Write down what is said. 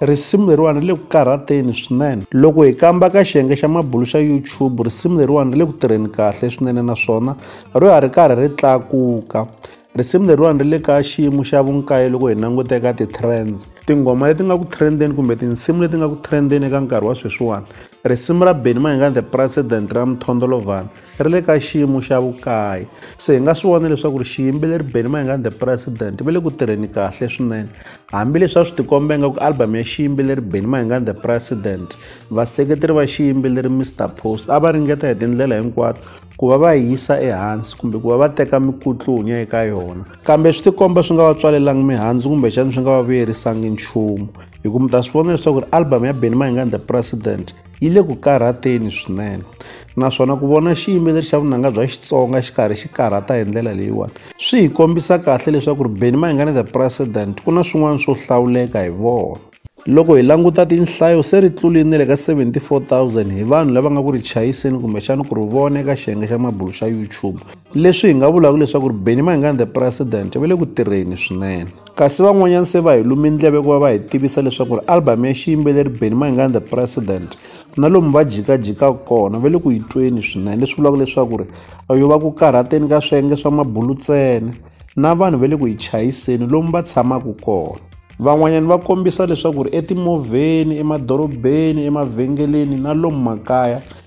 Risimu leriwani ri le ku karhateni swinene. Loko hi kamba ka xiyenge xa mabulo xa YouTube, risimu leriwani ri le ku tirheni kahle swinene naswona ro ya ri karhi ri tlakuka. Risimu leriwani ri le ka xiyimo xa vunkaye loko hi languta eka ti-trends. Tinghoma leti nga ku trend-eni kumbe tinsimu leti nga ku trend-eni eka nkarhi wa sweswiwani, risimu ra Benny Mayengani the President ra Mthondolovhani ri le ka xiyimo xa vukaye. Se hi nga swi vona leswaku ri xiyimbeleri Benny Mayengani the President va le ku tirheni kahle swinene Hambileswi a swi tikombe nga ku album ya xiyimbeleri Benny Mayengani The President, vaseketeri va xiyimbeleri Mr Post a va ringeta hi tindlela hinkwato ku va va yisa ehansi kumbe ku va va teka mikutlunya eka yona. Kambe swi tikomba swi nga va tswalelangi mihandzu kumbexana swi nga va vuyerisangi nchumu, hikuva mi ta swi vona leswaku ri album ya Benny Mayengani The President, yi le ku karhateni swinene naswona ku vona xiyimbeleri xa vunanga bya xitsonga xi karhi xi karhata hi ndlela leyiwani swi hi kombisa kahle leswaku ri beni mayingane the president ku na swin'wana swo hlawuleka hi vona loko hi languta tinhlayo se ri tlulini le ka 74000 hi vanhu lava nga ku ri chayiseni kumbexana ku ri vona eka xiyenge xa mabulu xa youtube leswi hi nga vulaka leswaku ri benny mayengani the president va le ku tirheni swinene kasi van'wanyana se va hi lumi ndleve ku va va hi tivisa leswaku ri album ya xiyimbeleri benny mayengani the president na lomu va jikajikaka kona va le ku yi tweni swinene leswi vulaka leswaku ri yo va ku karhateni ka swiyenge swa mabulu ntsena na vanhu va le ku yi chayiseni lomu va tshamaka kona van'wanyana va kombisa leswaku ri etimovheni emadorobeni emavhengeleni na lomu makaya